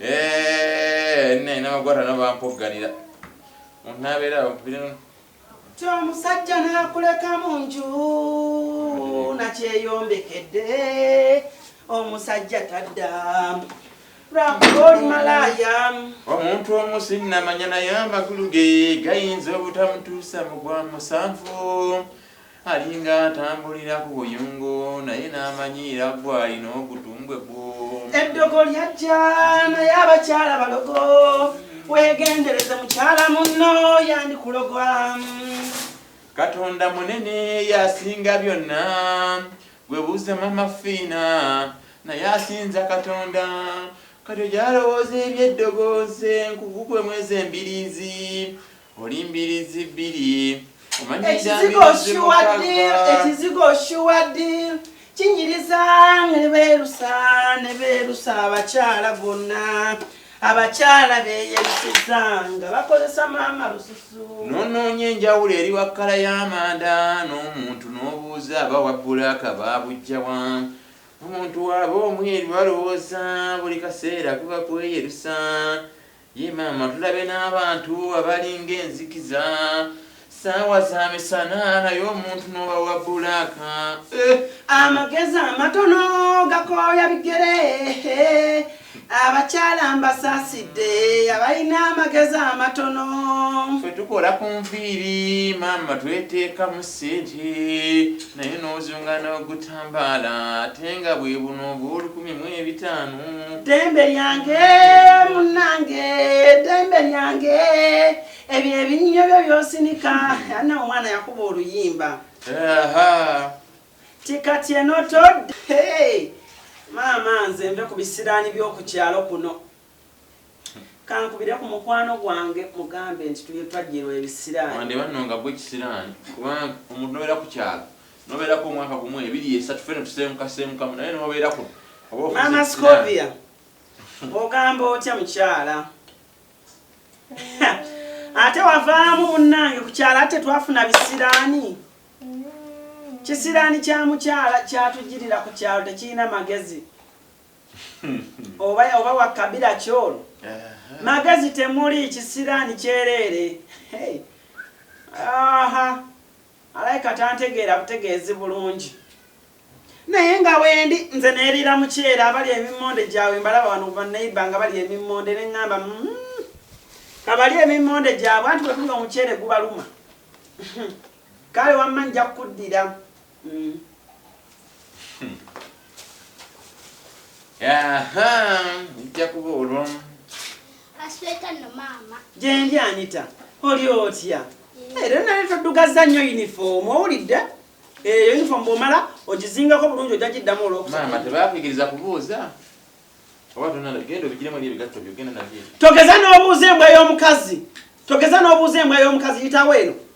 Eh, ne namagwata nabampogganira onaabeera ti omusajja nakuleka mu nju nakyeyombekedde omusajja tadda lwakuba oli malaaya omuntu omu sinnamanya naye amakulu ge gayinza obutamutuusa mu gwa musanvu Alinga atambulira ku buyungo naye n'amanyiira ggwe alina ogutumbwe gwo. Eddogo lyajja naye abakyala balogo weegendereze mukyala munno yandikuloga. Katonda munene y'asinga byonna gwe buuza mama Fiina naye asinza Katonda kati ogyalowooza eby'eddogo nze nkugugwe mwezi embiriizi Oli mbirizi bbiri omanyi dda mbirizi mukagga. Ekizigo oshuwa ddi kinyiriza ne beerusa ne beerusa abakyala bonna abakyala beeyerusiza nga bakozesa maama lususu. N'onoonya enjawulo eri wa kkala y'amanda n'omuntu n'obuuza aba wa bbulaaka baabujja wa? Omuntu w'aba omweru alowooza buli kaseera kuba kweyerusa Yii maama tulabye n'abantu abalinga enzikiza saawa za misana naye omuntu n'oba wa bulaaka eh. Amagezi amatono gakooya bigere abakyala mbasaasidde abalina amagezi amatono. Ffe tukola ku nviiri maama tweteekamu ssente. Naye n'ozunga n'ogutambaala ate nga bwe buno obw'olukumi mu ebitaano. Ddembe lyange munnange, ddembe lyange, ebyo ebinnyo byo by'osinika. Anna omwana yakuba oluyimba. Ahaa. Nti kati eno todda. Hee! Maama nze nve ku bisiraani by'oku kyalo kuno. Kankubire ku mukwano gwange mugambe nti tuye twajjirwa ebisiraani. Wande banno nga gwe kisiraani kubanga omuntu nobeera ku kyalo nobeerako omwaka gumu ebiri esatu fena tuseemukaseemukamu naye nobeera kuno oba ofuuse kisiraani. Maama Scovia ogamba otya mukyala? Ate wavaamu munnange ku kyalo ate twafuna bisiraani. Kisiraani kya mukyala kyatujjirira ku kyalo tekirina magezi. oba oba wa kabila ki ono magezi temuli kisiraani kyereere aha alaika tantegeera butegeezi bulungi naye nga wendi nze neerira mukyeera abali emimmonde gyabwe mbalaba wano baneiba nga bali emimmonde ne ŋŋamba mm, kabali emimmonde gyabwe anti bwetuli omukyere gubaluma kale wamma nja kukuddira Mm. Hmm. Aha, nja kuba olwo. Asweta no mama. Jendi anita. Oli otya? Eh, era nali todugaza nnyo uniform owulidde? Eh, uniform bwomala ogizingako bulungi ojja giddamu olwokusatu. Maama tebaakuyigiriza kubuuza. Oba tonna genda obigiremu ebigatto byo genda nabyo. Togeza n'obuuza embwa y'omukazi. Togeza n'obuuza embwa y'omukazi yitawo eno.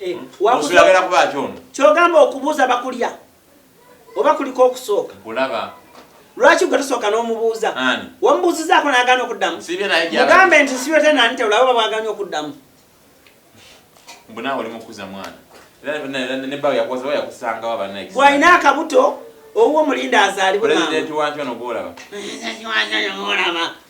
Eh, kyogamba okubuuza bakulya oba kuliko okusooka lwaki gwe tusooka n'omubuuza wamubuuzizaako nagana okuddamu mugambe nti sibyote nani tewulaba oba bwaganya okuddamu bwalina akabuto owuwo mulinde azaalibwe